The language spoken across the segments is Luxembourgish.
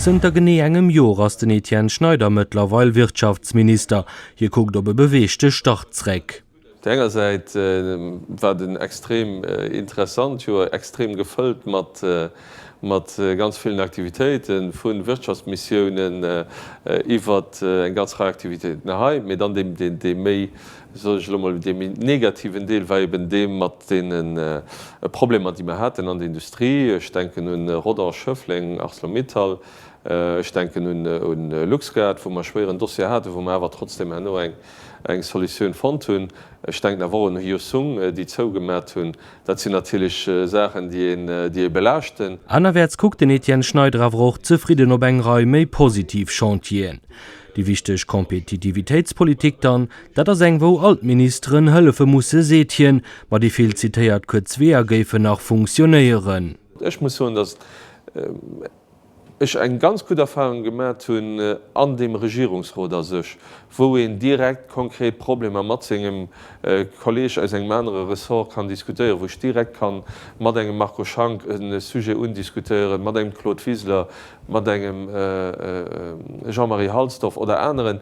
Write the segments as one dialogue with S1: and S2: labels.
S1: Zënter genee engem Jor ass den Etienne Schneider mëttlerweil Wirtschaftsminister. Hie kuckt op e beweegte Start zréck. Op der enger Säit
S2: war et en extrem interessant Joer, extrem gefëllt mat ganz villen Aktivitéiten, vu Wirtschaftsmissiounen iwwert eng ganz Rei Aktivitéiten hei, mee dann deem méi soll ech elo mol dee méi negativen Deel, war eben dee mat deene Problemer, déi mer haten an der Industrie. Ech denken un Rodange, Schëffleng, Arcelor-Mittal. Ech denken un LuxGuard, wou mer e schwéieren Dossier haten, wou mer awer trotzdem herno eng Solutioun fonnt hunn. Ech denken awer och un Hyosung, déi zougemat hunn. Dat sinn natierlech Saachen, déi ee belaaschten. Anerwäerts kuckt den
S1: Etienne Schneider awer och zefridden op eng Rei méi positiv Chantieren. Déi wichteg Kompetitivitéitspolitik dann, dat ass eng wou all d'Ministeren hëllefe musse seet hien, ma déi vill zitéiert kuerz Weeër géifen nach funktionéieren. Ech muss soen,
S2: datt ech eng ganz gutt Erfahrung gemat hunn an deem Regierungsrot a sech, wou een direkt konkret Problemer mat sengem Kolleg aus engem anere Ressort kann diskutéieren, wou ech direkt ka mat engem Marco Schank e Sujet undiskutéieren, mat engem Claude Wiseler, mat engem Jean-Marie Halsdorf oder aneren,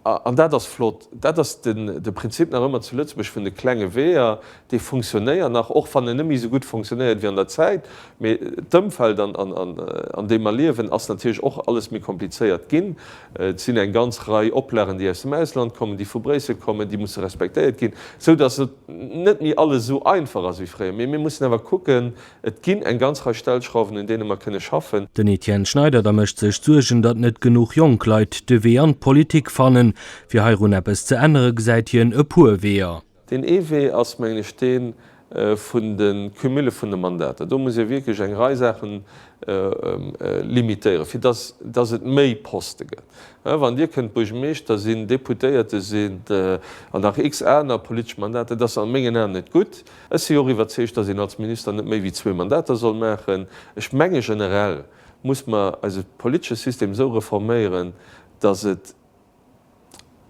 S2: an dat ass flott, dat ass de Prinzip nach ëmmer zu Lëtzebuerg vun de klenge Weeër, dee funktionéiert nach, och wann en net méi esou gutt funktionéiert wéi an der Zäit, mee d'Ëmfeld, an deem mer liewen, ass natierlech och alles méi komplizéiert ginn. Et sinn eng ganz Rei Oplagen, déi aus dem Ausland kommen, déi vu Bréissel kommen, déi musse respektéiert ginn, sou datt et net méi alles esou einfach ass wéi fréier. Mee mir mussen awer kucken, Et ginn eng ganz Rei Stellschrauwen, un deene mer kënne schaffen. Den Etienne Schneider
S1: da mécht sech Suergen, datt net genuch jonk Leit de Wee an d'Politik fannen. Fir heirun eppes ze ännere gesäit hien e puer Weeër. Deen ee Wee ass,
S2: mengen ech, dee vun de Cumule vun de Mandater. Do muss ee wierklech eng Rei Saache limitéieren, fir datt et méi Poste gëtt. Wann Dir kënnt Buergermeeschter sinn, Deputéierte sinn an nach x aner politesch Mandater, dat ass a mengen Aen net gutt. Ech si och iwwerzeegt, dass een als Minister net méi wéi zwee Mandater soll maachen. Ech menge generell muss mer eise politesche System esou reforméieren, dass et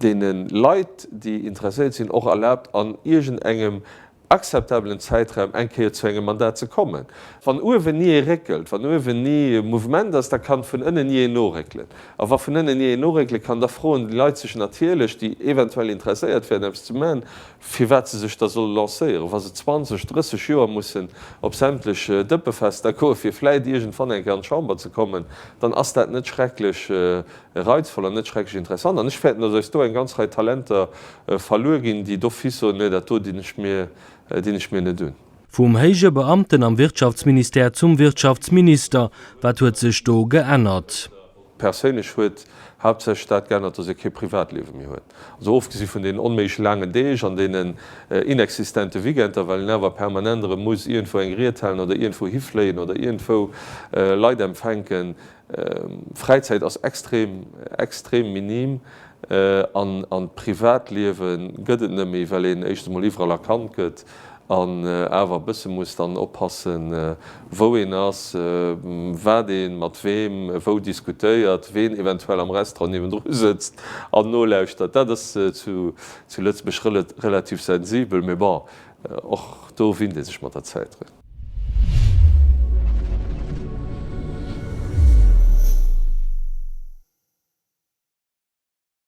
S2: deene Leit, déi interesséiert sinn, och erlaabt an iergend engem akzeptabelen Zäitraum eng Kéier zu engem Mandat ze kommen. Wann uewen ni ee réckelt, wann uewen ni e Mouvement ass, da kann vun ënnen ni een noréckelen. A wa vun ënnen ni een noréckele kann, da froen déi Leit sech natierlech, déi eventuell interesséiert wären eppes ze maachen, firwat se sech da solle lancéieren, wa se 20, 30 Joer mussen op sämtlech Dëppefester goen, fir vläit iergendwann eng Kéier an d'Chamber ze kommen, dann ass dat net schrecklech reizvoll an net schrecklech interessant. An ech fäerten, dass eis do eng ganz Rei Talenter verluer ginn, déi d'office soen, Nee, dat do dinn ech mir, dinn ech mir net un. Vum héije
S1: Beamten am Wirtschaftsministère zum Wirtschaftsminister, wat huet sech do geännert? Perséinlech
S2: huet haaptsächlech dat geännert, datt ee kee Privatliewe méi huet. Also ofgesi vun deenen onméiglech laangen Deeg an deenen inexistente Weekender, well een awer permanent erëm muss iergendwou eng Ried halen oder iergendwou hifléien oder iergendwou Leit empfänken. Fräizäit ass extrem, extrem minim an d'Privatliewe gëtt et net méi, well een éischtens emol iwwerall erkannt gëtt. an awer e bësse muss dann oppassen, wou een ass, wat ee mat weem wou diskutéiert, ween eventuell am Restaurant niewendru sëtzt an nolauschtert. Dat ass zu Lëtzebuerg relativ sensibel, mee bon, och do winnt ee sech mat der Zäit drun.